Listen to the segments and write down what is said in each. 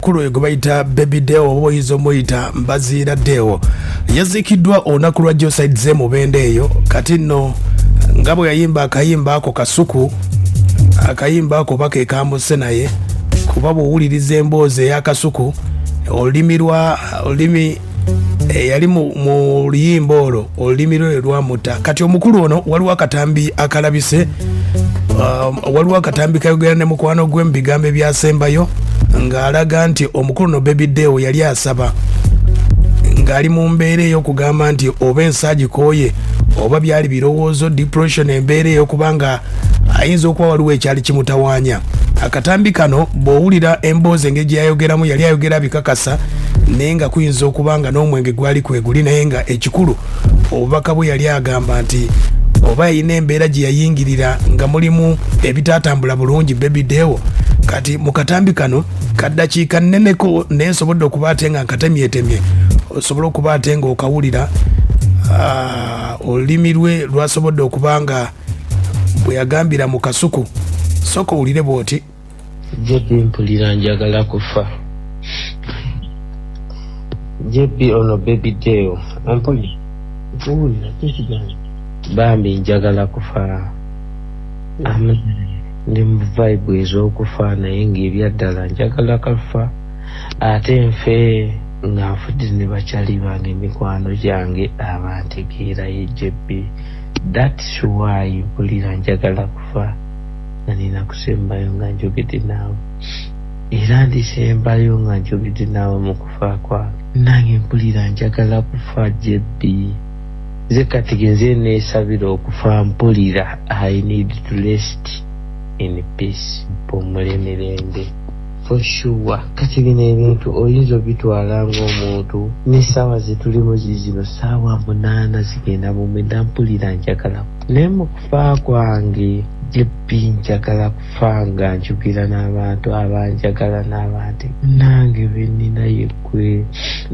kulu oyo gwe bayita baby deo oba oyinza omuyita mbaziira deo yaziikiddwa olunaku lwa joside ze mubenda eyo kati nno nga bwe yayimba akayimba ako kasuku akayimba ako oba kekambuse naye kuba bwowuliriza emboozi eyakasuku olulimi lwa olulimi eyali eh, mu luyimba olwo olulimi lwe lwamuta kati omukulu ono waliwo akatambi akalabise um, waliwo akatambi kayogera ne mukwano gwe mu bigambo ebyasembayo ng'alaga nti omukulu no bebi deo yali asaba ng'ali mu mbeera ey'okugamba nti oba ensaagikooye oba byali birowoozo depression embeera ey'okuba nga ayinza okuba waliwo ekyali kimutawaanya akatambi kano bw'owulira emboozi engeri gye yayogeramu yali ayogera bikakasa naye nga kuyinza okuba nga n'omwenge gwali kweguli naye nga ekikulu obubaka bwe yali agamba nti oba yalina embeera gye yayingirira nga mulimu ebitaatambula bulungi bebi dewo kati mu katambi kano kaddakiika nneneko naye nsobodde okuba ate nga nkatemyetemye osobola okuba ate nga okawulira ah, olulimi lwe lwasobodde okuba nga bwe yagambira mu kasuku soka owulire bw'oti jebbi mpulira njagala kufa jebbi ono bebi deo ampuli owulira tekigambo bambi njagala kufa ndi mu vibe ez'okufa naye ng'ebyaddala njagala kafa ate nfe nga nfudde ne bakyali bange emikwano gyange abantegeerayo jebbi That's why mpulira njagala kufa nga nina kusembayo nga njogedde naawe era ndisembayo nga njogedde naawe mu kufa kwange. Nange mpulira njagala kufa JB. Nze kati genze nesabira okufa mpulira I need to rest in peace mpumule mirembe. For sure kati bino ebintu oyinza obitwala ng'omuntu n'essaawa zetulimu zizino ssaawa munaana zigenda mumwenda mpulira njagala naye mu kufa kwange jebbi njagala kufa nga njogera n'abantu abanjagala n'abantu nange benina yegwe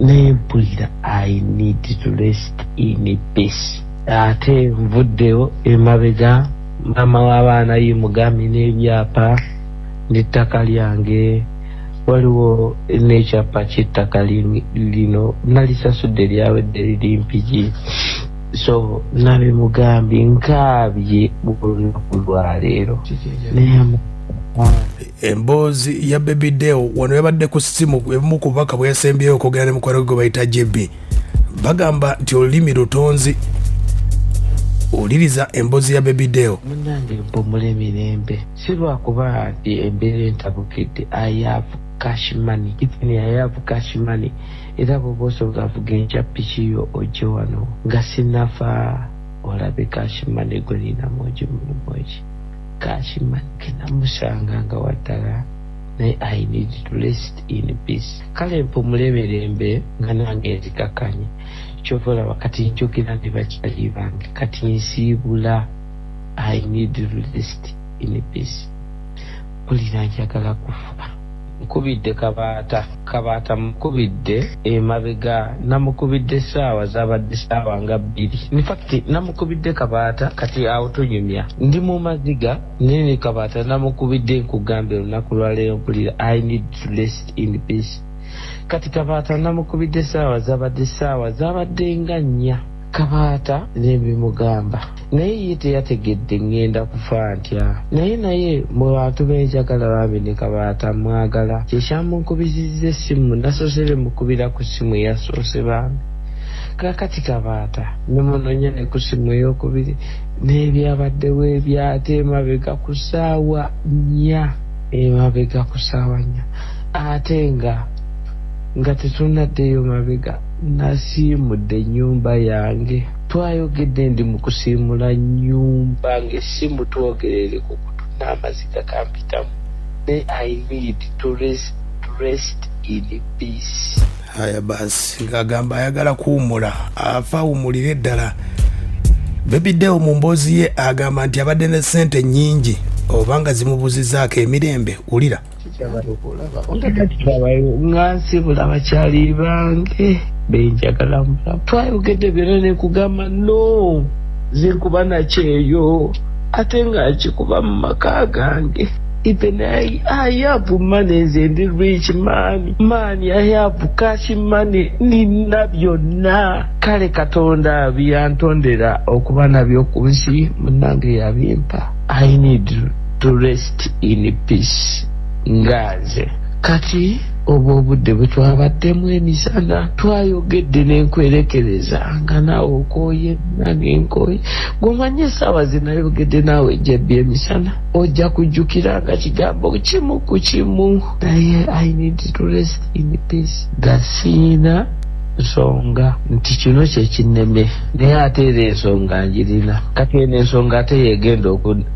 naye mpulira i need to rest in peace ate nvuddewo emabega maama w'abaana ye mugambi n'ebyapa nettaka lyange waliwo nekyappa kyettaka lino nalisasudde lyawedde liri mpigi so nabimugambi nkaabye olunaku lwaleero emboozi ya baby deo wano yabadde ku simu ebimu ku bubaka bweyasembyeyo okwogera ne mukwano gwe gwe bayita jb bagamba nti olulimi lutonzi wuliriza emboozi ya baby deo munange mpumule mirembe Si lwa kuba nti embeera entabukidde, I have cash money, even I have cash money, era bw'oba osooka avuga enkya ppiki yo ojje wano nga sinnafa olabe cash money gwe nina mungi mulimu ki? Cash money ke namusanga nga wa ddala naye I need to rest in peace. Kale mpumule mirembe nga nange nzikakkanye. Ky'ova olaba kati njogera ne bakyali bange, kati nsiibula. i need rest in peace mpulira njagala kufa nkubidde kabaata kabaata mukubidde emabega namukubidde saawa zabadde saawa nga bbiri infact namukubidde kabaata kati awo tunyumya ndi mu maziga nene kabaata namukubidde nkugambye olunaku lwaleero mpulira i need to rest in peace kati kabaata namukubidde saawa zabadde saawa zabadde nga nnya Kabaata nebimugamba naye ye teyategedde ngenda kufa ntya naye naye mwe bantu benjagala bambi ne kabaata mwagala kyekyamunkubizizza essimu nasoose bemukubira ku ssimu eyasoose bambi kakati kabaata nemunonya ne ku ssimu eyokubiri nebyabaddewo ebyate emabega ku ssaawa nnya emabega ku ssaawa nnya ate nga nga tetunaddeyo mabega Nasiimudde ennyumba yange. Twayogedde ndi mu kusiimula nnyumba ng'essimu twogerere ku kutu n'amaziga gampitamu naye I need to rest, to rest in peace. Haya basi ng'agamba ayagala kuwummula afa awummulire ddala. Baby Deo mu mboozi ye agamba nti abadde ne ssente nnyingi oba nga zimubuzizaako emirembe wulira. nga nsibula bakyali bange benjagala mubulamu twayogedde byona nekugamba no zinkuba nakyeyo ate nga nkikuba mu maka gange even I, I have money nze ndi rich man man I have cash money nina byonna kale katonda byantondera okuba nabyo ku nsi munange yabimpa I need to rest in peace nga nze kati obwo obudde bwe twabaddemu emisana twayogedde nenkwerekereza nga naawe okooye nange nkooye gwomanye esaawa zinayogedde naawe jebbi emisana ojja kujjukira nga kigambo kimu ku kimu naye i need to rest in peace gasiina nsonga nti kino kyekineme naye ate era ensonga njirina kati eno ensonga ate yegenda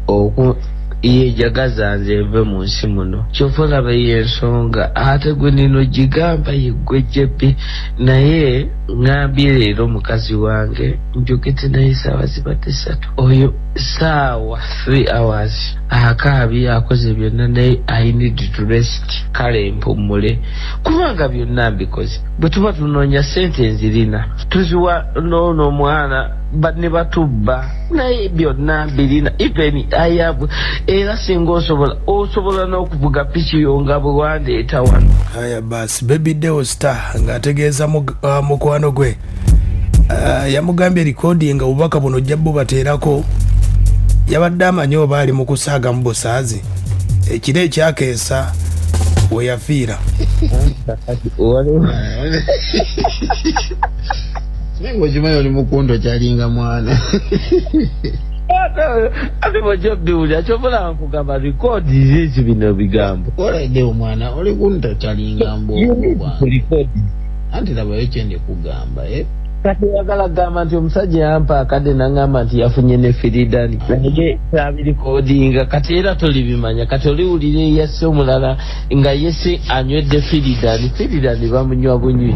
oku iye jagaza nze nve mu nsi muno kyova olaba eyo ensonga ate gwe nino gigamba yeggwe jebbi naye ngambye leero mukazi wange njogedde naye saawa zibadde satu oyo saawa 3 hours akaabi akoze byonna naye i need to rest kale mpummule kubanga byonna mbikoze bwe tuba tunoonya sente nzirina tuziwa noono omwana ne batubba naye byonna birina even ayabu era singa osobola osobola n'okuvuga piki yo nga bwe wandeeta wano aya bas baby deo star ng'ategeeza uh, mukwano gwe uh, yamugambye likodi nga obubaka buno ojja bubateerako yabadde amanyi oba ali mu kusaaga mu busaazi ekiro ekyakeesa weyafiira naye ngaokimanyi oli mukunto kyalinga mwana ate bwojja biwulira kyobola nkugamba rikoodi zizi bino bigambo olaide omwana oli kunto kyalinga mbwokubanrikoodi anti labayo kyende kugamba e eh? kati oyagala kugamba nti omusajja yampa akadde nangamba nti yafunye ne firidani naye kyabirikodinga kati era tolibimanya kati oliwulira eyasse omulala nga yese anywedde firidani firidani bamunywa bunywi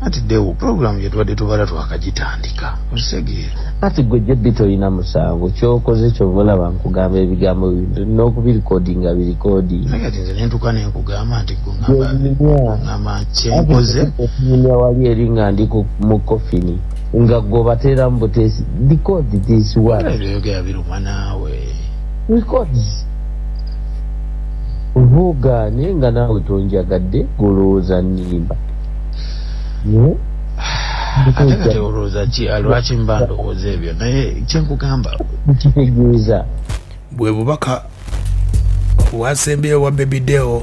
Anti Deo program gyetubadde tubala twakagitandika okitegeera. Anti gwe JB tolina musango kyokoze kyova olaba nkugamba ebigambo bintu nina okubirekodinga birekodinga. Naye kati nze nentuka nenkugamba nti gungamba kyenkoze. Okunyumya wali eri nga ndi mu kofini nga gwe obateera mu buteesi record this one. Ebyo yogera biruma naawe. Records. Vuga naye nga naawe tonjagadde golowooza nimba. ate kati olowooza ki lwaki mba ndowooza ebyo naye kyenkugamba kitegeeza bwe bubaka bwasembeyo wa bebideo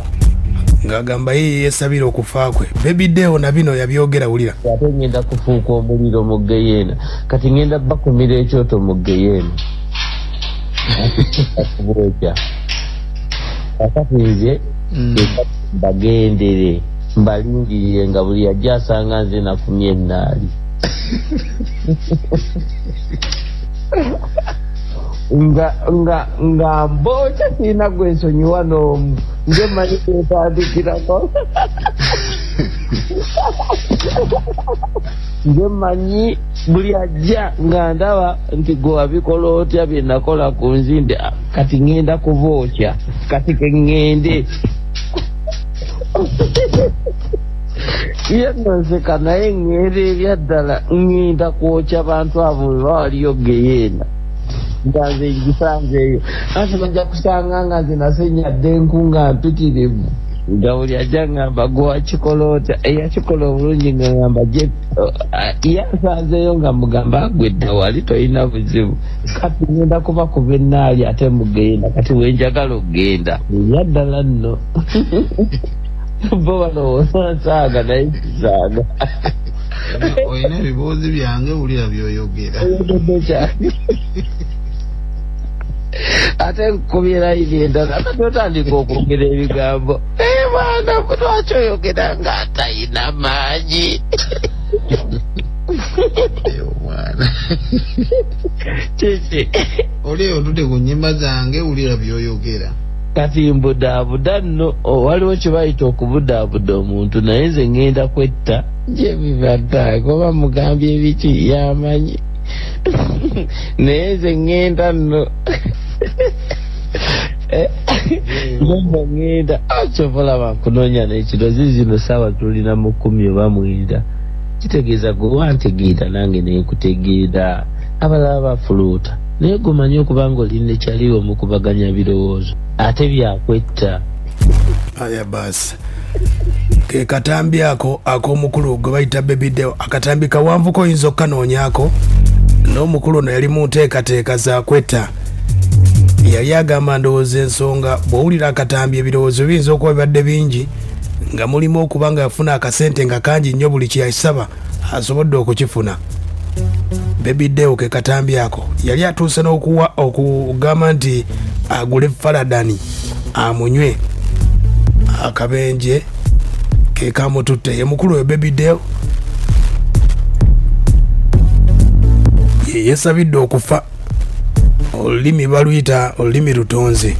ng'agamba ye yeyesabira okufa kwe bebideo na bino yabyogera wulira ate ngenda kufuuka omuliro mu geyeena kati ngenda bakumira ekyoto mu geyeena akubwoja akati nze mm. bagendere mbalindiriire nga buli ajja asanga nze nafumye ennaali nga nga nga mbooca sirina gwe nsonyiwa n'omu nze manyi kwetandikirako nze manyi buli ajja nga ndaba nti gwe wabikola otya bye nakola ku nzinde ah, kati ŋŋenda kuba otya kati ke ŋŋende ye nonseka naye ŋŋeera ebyaddala ŋŋenda kwokya bantu abo bwe bawaliyo geyeena nga nze ngisanzeeyo anti bajja kusanga nga nze nasenyadde enku nga mpitirivu nga buli ajja ŋŋamba gwe wakikola otya eyakikola obulungi nga ŋamba ye asanzeeyo nga mugamba agwedda wali tolina buzibu kati ngenda kuba ku benaali ate mugenda kati wenjagala okugenda yaddala nno bo balowooza nsaaga naye kisaaga olina ebibuuzi byange wulira byoyogera ate nkubira ibendala kati otandika okwogera ebigambo naye mwana lwaki oyogera nga atayina maanyi omwana kiki oli eyo otude ku nyimba zange wulira byoyogera kati mbudaabuda nno waliwo kyebayita okubudaabuda omuntu naye nze ŋŋenda kwetta gyebibaddaako oba mugambye ebiki yamanyi naye nze ŋŋenda nno nomba ŋŋenda ah, kyovolaba nkunoonya nekiro zizino saawa tulina mu kumi oba mwenda kitegeeza gwe wantegeera nange nekutegeera abalala bafuluuta naye gumanye okuba nga oli ne kyali omukubaganya birowoozo ate byakwetta aya baasi kekatambi ako akomukulu gwe bayita bebideo akatambi kawanvuko oyinza okukanoonyako n'omukulu ono yali mu nteekateeka zakwetta yali agamba ndowooza ensonga bw'owulira akatambi ebirowoozo biyinza okuba bibadde bingi nga mulimu okuba nga yafuna akasente nga kangi nnyo buli kyeyakisaba asobodde okukifuna bebideo ke katambi ako yali atuuse n'okuwa okugamba nti agule faladani amunywe akabenje ke kamututte ye mukulu we bebideo yeyesabidde okufa olulimi baluyita olulimi lutonze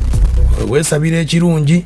wewesabira ekirungi